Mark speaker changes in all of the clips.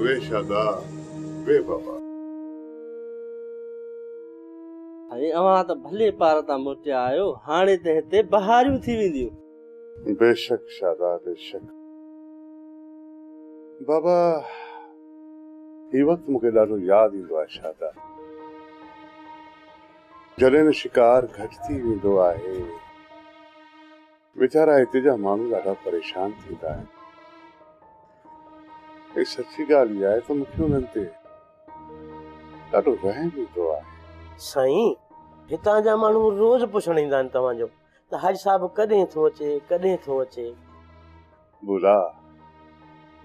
Speaker 1: V شادا وي بابا.
Speaker 2: سائين اوهان ته ڀلي پار تان موٽيا آهيو هاڻي ته هتي بهاريون ٿي وينديون. بيشڪ شادا
Speaker 1: بيشڪ. بابا هي وقت مون کي ڏاڍو ياد ايندو آهي شادا جڏهن نه شڪار گهٽ ٿي ويندو آهي ويچارا هتي جا ماڻهو ڏاڍا پريشان ٿيندا آهن ۽ سچي ڳالهه اها آهي ته مون کي انهن تي ڏاڍو رحم ايندو آهي. سائين
Speaker 2: هتان جا ماڻهو روز پڇڻ ايندا آهن توهان جو ته حاجي صاحب ڪڏهن ٿو اچي ڪڏهن ٿو اچي.
Speaker 1: بولا،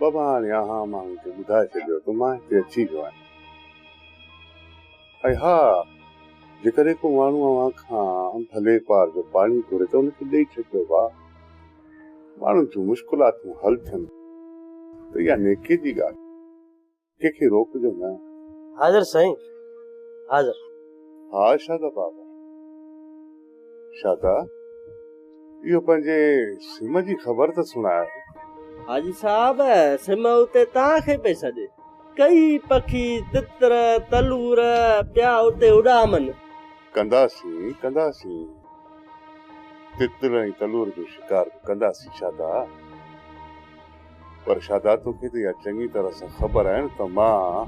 Speaker 1: بابا هاڻي اوهان ماڻهن کي ٻڌائي ڇڏيو ته مان هتي اچي ويو آهيان ۽ ها جيڪڏهن ڪو ماڻهو اوهان کان ڀلي پار جو پاڻي گهري ته ان کي ڏئي ڇڏجو ڀاء ماڻهن جون مشڪلاتون حل ٿين ته اها نيڪي جي ڳالهه آهي. ڪنهن کي روڪجو نه. حاضر سائين
Speaker 2: حاضر. ها
Speaker 1: شادا بابا. شادا اهو پنهنجي سم جي خبر ته سڻاء. حاجي
Speaker 2: صاحب سم اتي توهان کي پئي سڏي. ڪئي پکي تتر تلور پيا اتي اڏامن. ڪنداسين ڪنداسين. تتر ۽ تلور جو شڪار به ڪنداسين شادا. پر شادا توکي ته اها چڱي طرح سان خبر آهي نه ته مان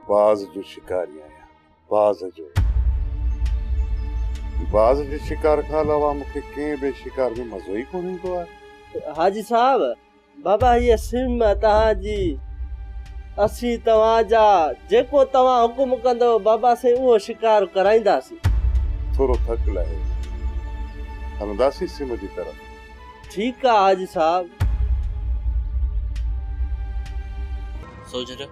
Speaker 2: باز جو شڪاري آهيان، باز جو. باز جي شڪار کان علاوه مون کي ڪنهن ٻئي شڪار ۾ مزو ئي ڪونه ايندو آهي. حاجي صاحب، بابا هيء سم توهان جي، اسين توهان جا، جيڪو توهان حڪم ڪندؤ بابا سائين اهو شڪار ڪرائينداسين. ٿورو ٿڪ لاهي هلنداسين سم جي طرف. ٺيڪ آ حاجي صاحب.
Speaker 3: سوجهر،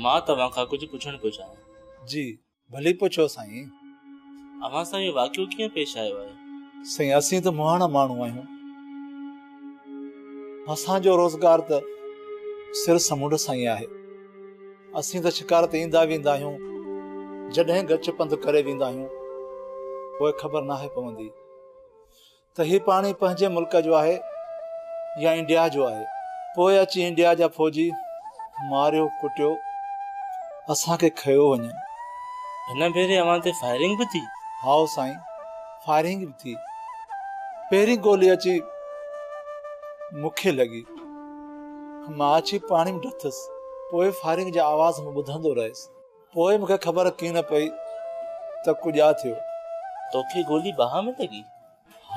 Speaker 3: مان توهان کان ڪجهه پڇڻ پيو چاهيان. جي ڀلي
Speaker 4: پڇو سائين. اوهان
Speaker 3: سان اهو واقعو ڪيئن پيش آيو آهي؟ سائين اسين ته
Speaker 4: مهاڻا ماڻهو آهيون. اسان جو روزگار ته سر سمنڊ سان ئي آهي. اسين ته شڪار تي ايندا ويندا آهيون. جڏهن ڳچ پنڌ ڪري ويندا آهيون پوء خبر ناهي پوندي. ته هي پاڻي پنهنجي ملڪ جو آهي يا انڊيا جو آهي پوء اچي انڊيا جا فوجي ماريو ڪٽيو اسان کي کنيو وڃن. هن
Speaker 3: ڀيري اوهان تي فائرنگ به ٿي؟ هائو سائين
Speaker 4: فائرنگ به ٿي پهرين گولي اچي مون کي لڳي مان اچي پاڻي ۾ ڊٿس پوء فائرنگ جا آواز مان ٻڌندو رهيس. پوء مون کي خبر ڪيئن نه پئي ته ڪڄاء ٿيو. توکي گولي
Speaker 3: ٻانهن ۾ لڳي؟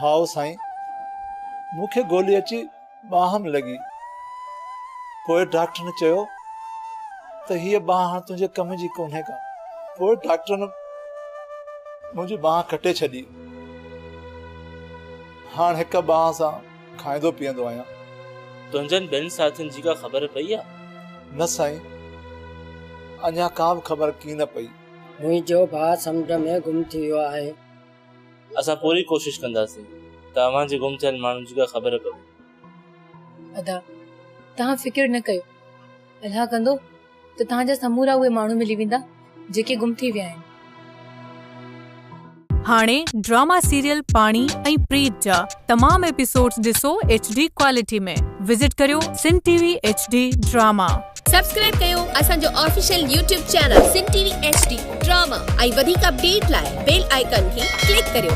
Speaker 3: هائو سائين،
Speaker 4: مون کي گولي اچي ٻانهن ۾ لڳي. پوء ڊاڪٽرن چيو ته هيء ٻانهن هاڻ تنهنجي ڪم جي ڪونهي ڪا. پوء ڊاڪٽرن منهنجي ٻانهن ڪٽي ڇڏي. هاڻ هڪ ٻانهن سان کائيندو پيئندو آهيان. تنهنجن
Speaker 3: ٻين ساٿين جي ڪا خبر پئي آ؟ نه سائين،
Speaker 4: اڃا ڪا به خبر ڪين نه پئي. منهنجو ڀاء
Speaker 5: سمنڊ ۾ گم ٿي ويو آهي. اسان
Speaker 3: پوري ڪوشش ڪنداسين ته اوهان جي گم ٿيل ماڻهن جي ڪا خبر پوي. ادا،
Speaker 6: توهان فڪر نه ڪيو. الله ڪندو ته توهان جا سمورا اهي ماڻهو ملي ويندا جيڪي گم ٿي ويا آهن.
Speaker 7: هاڻي ڊراما سيريل پاڻي ۽ پريت جا تمام ايپيسوڊز ڏسو ايڇ ڊي ڪوالٽي ۾ وزٽ ڪريو Sun T V H D drama. Subscribe ڪيو
Speaker 8: اسان جو official YouTube channel Sun T V H D drama ۽ وڌيڪ اپڊيٽ لاء بيل آئيڪن کي ڪلڪ ڪريو.